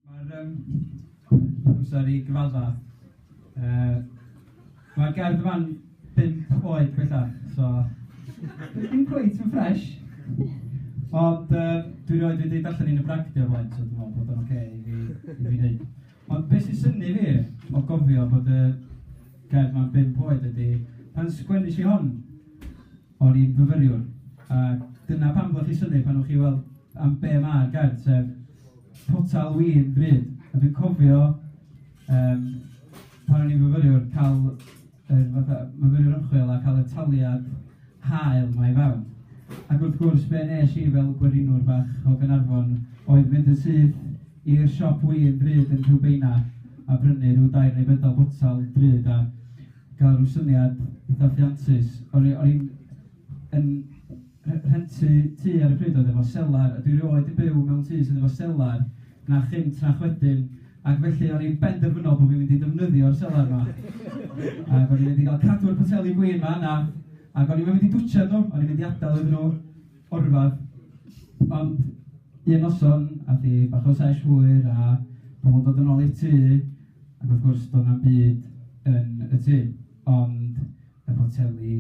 Mae'r yym amser i gyfadda yy mae'r gerdd yma'n bump oed bellach, so ddim cweit yn ffresh, ond yy dwi erioed wedi darllen un yn Pragdy o'r blaen, so dwi'n meddwl bod o'n ocê i fi i fi wneud. Ond be sy'n synnu fi o gofio bod y gerdd 'ma'n bump oed ydy pan sgwennes i hon, O'n i'n fyfyriwr, a dyna pam ddoth y syniad pan o'ch chi'n weld am be ma'r gerdd, sef potel win ddrud. A dwi'n cofio yym pan o'n i'n fyfyriwr cael yr fatha myfyriwr ymchwil a cael y taliad hael 'ma i fewn, ac wrth gwrs be wnes i fel gwerinwr bach o Gaernarfon oedd mynd yn syth i'r siop win ddrud yn Rhiwbeina a prynu rhyw dair neu bedwar botel drud a cael ryw syniad eitha ffiantus. O'n i o'n i'n yn rhe- rhentu tŷ ar y pryd oedd efo selar, a dwi erioed 'di byw mewn tŷ sydd efo selar, na chynt na'ch wedyn, ac felly o'n i'n benderfynol bod fi'n mynd i ddefnyddio'r selar 'ma, ac o'n i'n mynd i gael cadw'r poteli gwin 'ma yna, ac o'n i'm yn mynd i dwtshad nhw, o'n i'n mynd i adael iddyn nhw O rhyfedd. Ond un noson aeth hi bach o sesh hwyr a pobl yn dod yn ôl i'r tŷ ac wrth gwrs doedd na'm byd yn y tŷ ond y poteli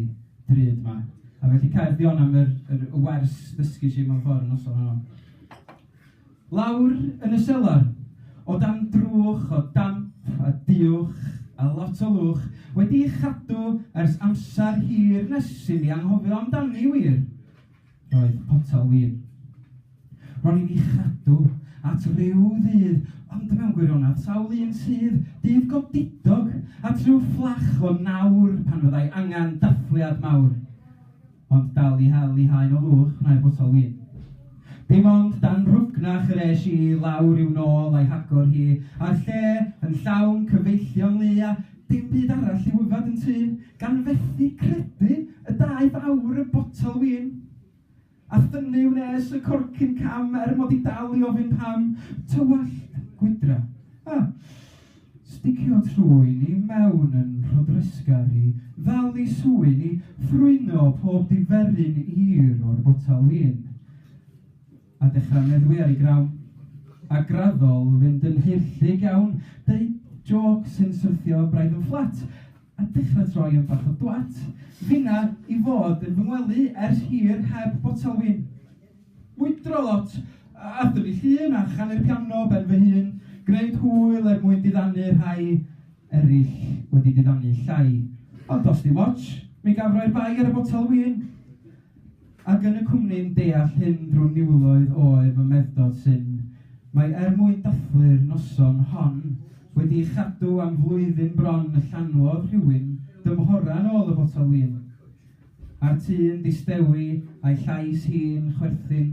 drud 'ma. A felly cariad Fiona am yr yr y wers ddysgais i mewn ffordd y noson honno. Lawr yn y selar, o dan drwch o damp a duwch a lot o lwch, wedi'i chadw ers amser hir nes i mi anghofio amdani wir, roedd potel win. Ro'n i'n ei chadw at ryw ddydd, ond mewn gwirionedd, sawl un sydd, dydd godidog, at ryw fflach o nawr pan fyddai angen dathliad mawr? ond dal i hel i haen o fuwch nair botel win. Dim ond dan rwgnach yr es i i lawr i'w nôl a'i hagor hi a'r lle yn llawn cyfeillion lu a dim byd arall i'w yfed yn tŷ, gan fethu credu y daeth aur y botel win. A thynnu wnes y corcyn cam er mod i dal i ofyn pam. Tywallt, gwydra. Ah! Sticio trwy ni mewn yn rhodresgar i ddal ni swyn i ffrwyno pob diferyn hir o'r botel win. A dechra meddwi ar ei grawn. A graddol fynd yn haerllug iawn, deud jôc sy'n syrthio braidd yn fflat. a dechra troi am bach o dwat. Finna i fod yn fy ngwely ers hir heb botel win. Mwydro lot, a thyfu llun a chanu'r piano ben fy hun, gneud hwyl er mwyn diddanu rhai eryll wedi diddanu llai. Ond os dim otsh, mi gaf roi'r bai ar y botel win. Ac yn y cwmni'n deall hyn drwy niwloedd oer fy meddod syn, mae er mwyn dathlu'r noson hon wedi ei chadw am flwyddyn bron y llanwodd rhywun dymhora'n ôl y botel win. A'r tŷ'n distewi a'i llais hi'n chwerthin